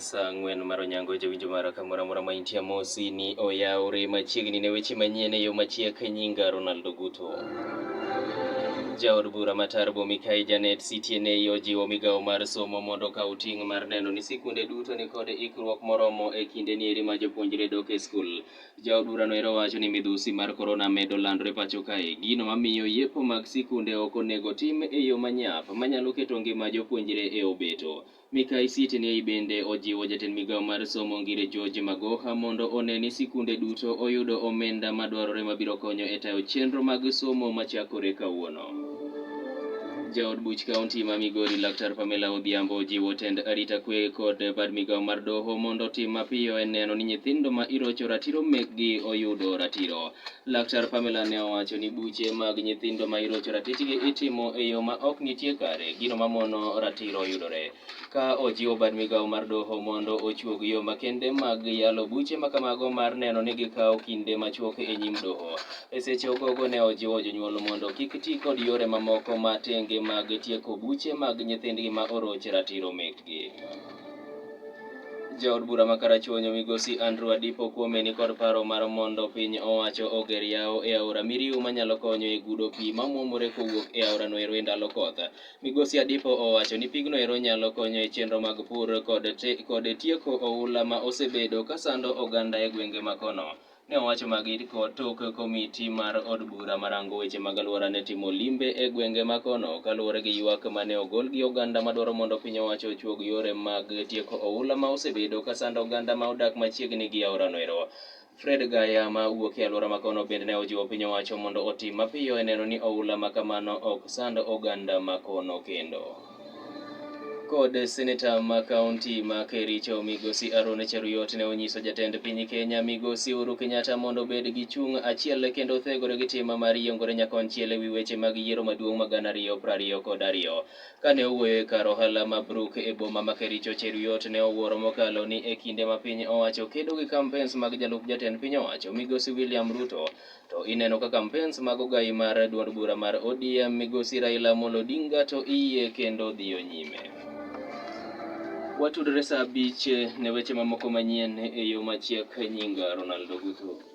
saa ang'wen mar onyango jowinjo mara kamoro amora ma intie amosi ni oyawore machiegni ne weche manyien e yo machiek nyinga Ronaldo Guto. Jaod bura ma Tarbo Mikai Janet Sitiene ojiwo migawo mar somo mondo okaw ting' mar neno ni sikunde duto nikod ikruok moromo e kindeni eri ma jopuonjre dok e skul. Jaod burano ero wacho ni midhusi mar korona medo landore pacho kae, gino mamiyo yepo mag sikunde ok onego tim e yo manyap manyalo keto ngima jopuonjre e obeto. Mikai Siti Niei bende ojiwo jatend migao mar somo Ngire George Magoha mondo one ni sikunde duto oyudo omenda madwarore mabiro konyo e tayo chenro mag somo machakore kawuono. Jaod buch kaunti ma Migori Laktar Pamela Odhiambo jiwo tend arita kwe kod bad migawo mar doho mondo otim mapiyo e neno ni nyithindo ma irocho ratiro mekgi oyudo ratiro. Laktar Pamela ne owacho ni buche mag nyithindo ma irocho ratichgi itimo e yo ma ok nitie kare, gino mamono ratiro yudore. ka ojiwo bad migawo mar doho mondo ochuog yo makende mag yalo buche makamago mar neno ni gikawo kinde machuok e nyim doho. E seche ogogo ne ojiwo jonyuol mondo kik ti kod yore mamoko ma tenge mag tieko buche mag nyithindgi ma oroch ratiro mekgi. Jaod bura ma Karachuonyo migosi Andrew Adipo Kuome ni kod paro mar mondo piny owacho oger yawo e aora Miriu manyalo konyo e gudo pi mamwomore kowuok e aorano ero e ndalo koth. Migosi Adipo owacho ni pigno ero nyalo konyo e chenro mag pur kod, te, kod tieko oula ma osebedo ka sando oganda e gwenge ma kono. Ne owacho magi tok komiti mar od bura marango weche mag aluora ne timo limbe e gwenge ma kono kaluwore gi ywak mane ogol gi oganda madwaro mondo piny owacho ochuog yore mag tieko oula ma osebedo ka sando oganda ma odak machiegni gi aorano ero. Fred Gaya ma wuok e alwora makono bende ne ojiwo piny owacho mondo otim mapiyo e neno ni oula ma kamano ok sand oganda makono kendo. Kod seneta ma kaunti ma Kericho migosi Arone Cheruiyot ne onyiso jatend piny Kenya migosi Uhuru Kenyatta mondo obed gi chung' achiel kendo othegore gi tim mar yiengore nyakonchiel e wi weche mag yiero maduong' ma gana ariyo prariyo kod ariyo. Kane owuoyo e kar ohala ma Brooke e boma ma Kericho, Cheruiyot ne owuoro mokalo ni e kinde ma piny owacho kedo gi kampens mag jalup jatend piny owacho, Migosi William Ruto, to ineno ka kampens mag ogayi mar duond bura mar ODM, Migosi Raila Amolo Odinga to iyie kendo dhiyo nyime. Watudre saa abich ne weche mamoko manyien e yo machiek, nyinga Ronaldo Guthu.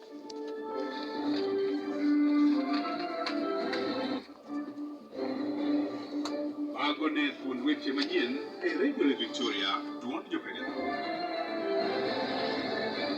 Mago ne thuond weche manyien e Radio Victoria, duond jopiny.